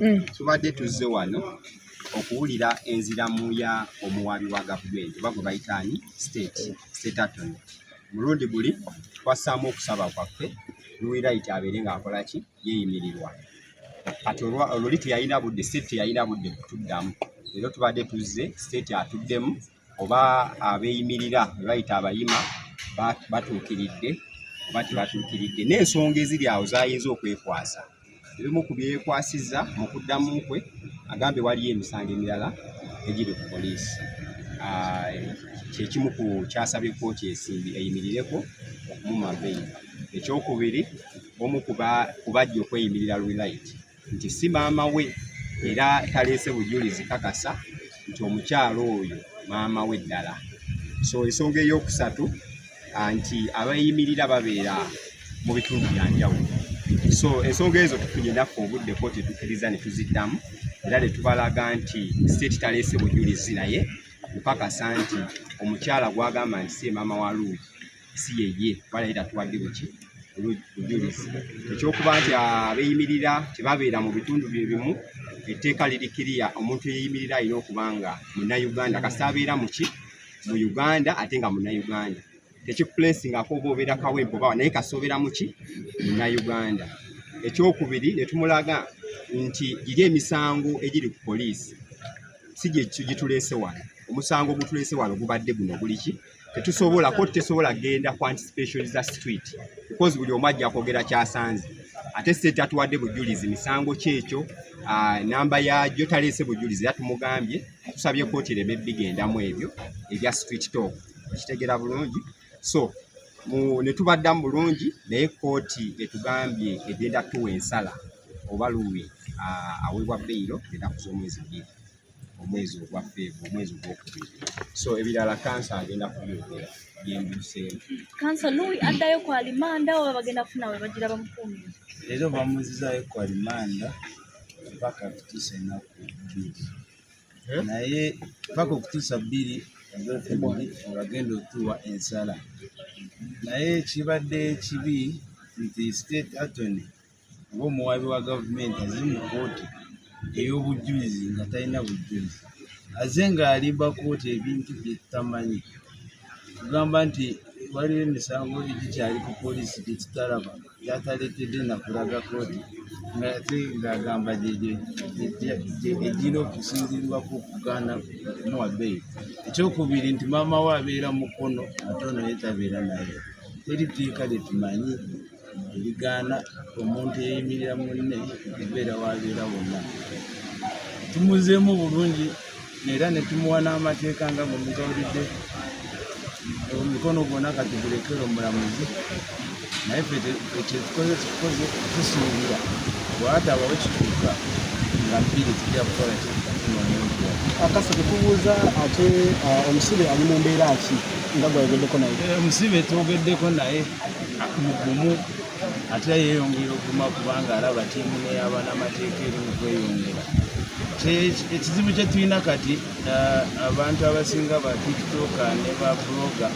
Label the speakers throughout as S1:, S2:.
S1: mm. tubadde tuzze wano okuwulira enziramu ya omuwaabi wa gavumenti oba gwe bayita ani state state attorney mulundi guli twassaamu okusaba kwaffe luwiraiti abeere ng'akola ki yeeyimirirwa kati oluli teyalina budde state teyalina budde kutuddamu leero tubadde tuzze state atuddemu oba abeeyimirira be bayita abayima batuukiridde oba tebatuukiridde n'ensonga eziri awo zayinza okwekwasa ebimu ku byekwasiza mu kuddamu kwe agambe waliyo emisango emirala egiri ku poliisi ah, kyekimu ku kyasabye kooti esimbi eyimirireko okumuma beyi ekyokubiri omu kubajja okweyimirira lwilite nti si maama we era taleese bujulizi kakasa nti omukyalo oyo maama we ddala so ensonga eyokusatu nti abayimirira babeera mu bitundu byanjawulo so ensonga ezo tufunye naffe obudde kooti etukiriza ne tuziddamu era ne tubalaga nti state taleese bujulizi naye okukakasa nti omukyala gwagamba nti si maama wa luugi si yeye kuba naye tatuwadde buki bujulizi ekyokuba nti abeeyimirira tebabeera mu bitundu bye bimu etteeka liri kiriya omuntu eyeyimirira alina okuba nga munnayuganda kasita abeera muki mu uganda ate nga munnayuganda tekikuplesingako oba obeera kawempe obawa naye kasita obeera muki munnayuganda ekyokubiri ne tumulaga nti giri emisango egiri ku poliisi si gyetulese wano omusango ogutulese wano gubadde guno guliki tetusobola ko tesobola genda ku anticipation za street because buli omu ajja kwogera kyasanze ate state atuwadde bujulizi misango kyekyo ah, namba yagyo taleese bujulizi era tumugambye tusabye kooti ereme bigendamu ebyo ebya street talk ekitegera bulungi so netubaddamu bulungi naye kooti etugambye egenda tuwa ensala oba luwi ah, aweebwa beyiro genda kuza omwezi bbiri omwezi ogwa feevu omwezi ogwokubiri so ebirala kansa agenda kubyogera byembiseemu kansa lui
S2: addayo ku alimanda oba bagenda kufuna we bagira bamukuumira leero bamuzizayo
S3: ku alimanda mpaka kutuusa enaku bbiri eh? naye mpaka okutuusa bbiri ogwokubiri olagenda otuwa ensala naye kibadde kibi nti state atony ng'omuwaabi wa gavumenti azze mu kkooti ey'obujjulizi nga talina bujjulizi aze ng'alimba kkooti ebintu bye tutamanyi kugamba nti waliwo emisango egikyali ku poliisi gye tutalaba gyataleetedde nakulaga kkooti ngate ng'agamba egyina okusinzirirwako okugaana kumuwa beeyi ekyokubiri nti maama we abeera mukono ate ono yetabeera naye teri tteeka lye tumanyi ebigaana omuntu eyimirira munne okubeera wabeera wonna tumuzeemu bulungi era ne tumuwa n'amateeka nga bwe mugawulidde omikono gwona kati gulekere omulamuzi naye fe kyetukoze tukoze tusuubira bwatabawo kituuka nga mpiri tujja kukola kyetukatunonenkuwa akasa
S4: tukubuuza ate uh, omusibe ali mu mbeera ki nga gwayogeddeko naye eh, omusibe twogeddeko
S3: naye mugumu ate yeyongera okuguma kubanga alaba tiimu neyabanamateeka eri mu kweyongera ekizibu kye tulina kati uh, abantu abasinga ba tiktoka ne ba bloga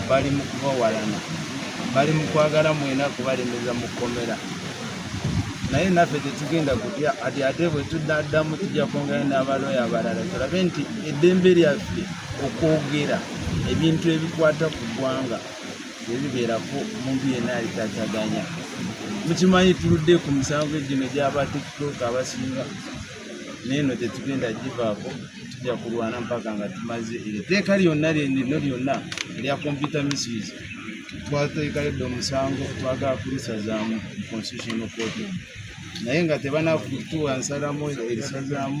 S3: bali mu kubawalana bali mu kwagala mwena kubalemeza mu kkomera naye naffe tetugenda kutya ati ate bwe tudaddamu tujja kwongera n'abalooya abalala tulabe nti eddembe lyaffe okwogera ebintu ebikwata ku ggwanga ebibeerako omuntu yenna alitataganya mukimanyi tuludde ku misango egino gyaba tiktok abasinga neeno gyetugenda givaako tujja kulwana mpaka nga tumaze eri teeka lyonna lyenino lyonna erya computer misuse twateekaledde omusango twagala kulisazaamu constitutional court naye nga tebanakutuwa nsalamu erisazaamu